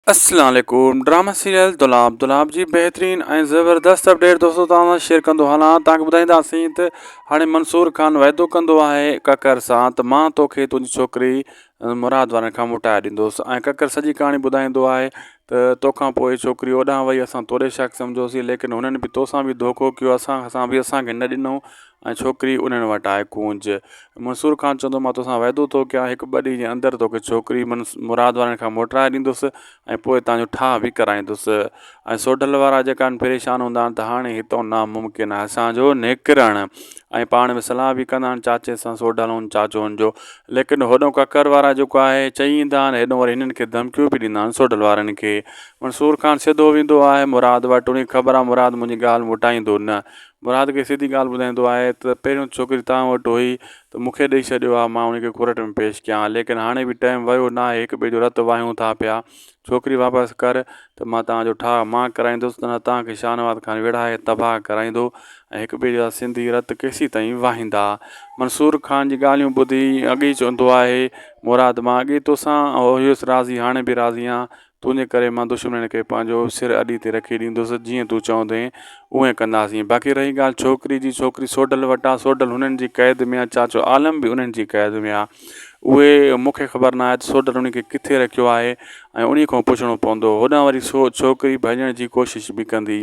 السلام عليڪم drama serial Dolab Dolab جي بهترين ۽ زبردست اپڊيٽ دوستو توهان سان شيئر ڪندو هلان توهان کي ٻڌائينداسين ته هاڻي منصور خان وعدو ڪندو آهي ڪڪر سان ته مان توکي تنهنجي ڇوڪري مراد وارن کان موٽائي ڏيندوس ۽ ڪڪر سڄي ڪهاڻي ٻڌائيندو آهي ته توکان پوء ڇوڪري اوڏانهن وئي اسان توڏي شڪ سمجهوسي ليڪن هنن به توسان به ڌوڪو ڪيو اسان سان به اسان کي نه ڏنو ۽ ڇوڪري انهن وٽ آئي ڪونج منصور خان چوندو مان توسان وعدو ٿو ڪيان هڪ ٻه ڏينهن جي اندر توکي ڇوڪري مراد وارن کان موٽرائي ڏيندس ۽ پوء هتان جو ٺاهه به ڪرائيندس ۽ سوڍل وارا جيڪا آهن پريشان هوندا آهن ته هاڻي هتان ناممڪن آهي اسان جو نڪرڻ ۽ پاڻ ۾ صلاح به ڪندا آهن چاچي سان سوڍلن چاچن جو ليڪن هوڏو ڪڪر وارا جيڪو آهي چئي ايندا آهن هيڏو وري هنن کي ڌمڪيون به ڏيندا آهن سوڍل وارن کي منصور خان سڌو ويندو آهي مراد وٽ ان کي خبر آهي مراد منهنجي ڳالهه مٽائيندو نه مراد کي سڌي ڳالهه ٻڌائيندو آهي ته پهريون ڇوڪري توهان وٽ هئي ته مون کي ڏئي ڇڏيو ها مان ان کي ڪورٽ ۾ پيش ڪيان ها ليڪن هاڻي به ٽيم ويو ناهي هڪ ٻئي جو رت واهيون ٿا پيا ڇوڪري واپس ڪر ته مان توهان جو ٺاهه مان ڪرائيندس نه ته توهان کي شاهنواز خان ويڙهائي تباهه ڪرائيندو ۽ هڪ ٻئي جا سنڌي رت ڪيسين تائين واهيندا. منصور خان جي ڳالهيون ٻڌي اڳي ئي چوندو آهي مراد مان اڳي توسان هيس راضي هاڻي به راضي آهيان تنهنجي ڪري مان دشمنن کي پنهنجو سر اڏي تي رکي ڏيندس، جيئن تون چوندين، اونئين ڪنداسين. باقي رهي ڳالهه ڇوڪري جي، ڇوڪري سوڍل وٽ آ، سوڍل هنن جي قيد ۾ آ، چاچو عالم به انهن جي قيد ۾ آ. اهي مون کي خبر ناهي ته سوڍل انهي کي ڪٿي رکيو آهي ۽ انهي کان پڇڻو پوندو. هوڏانهن وري سو ڇوڪري ڀڄڻ جي ڪوشش به ڪندي.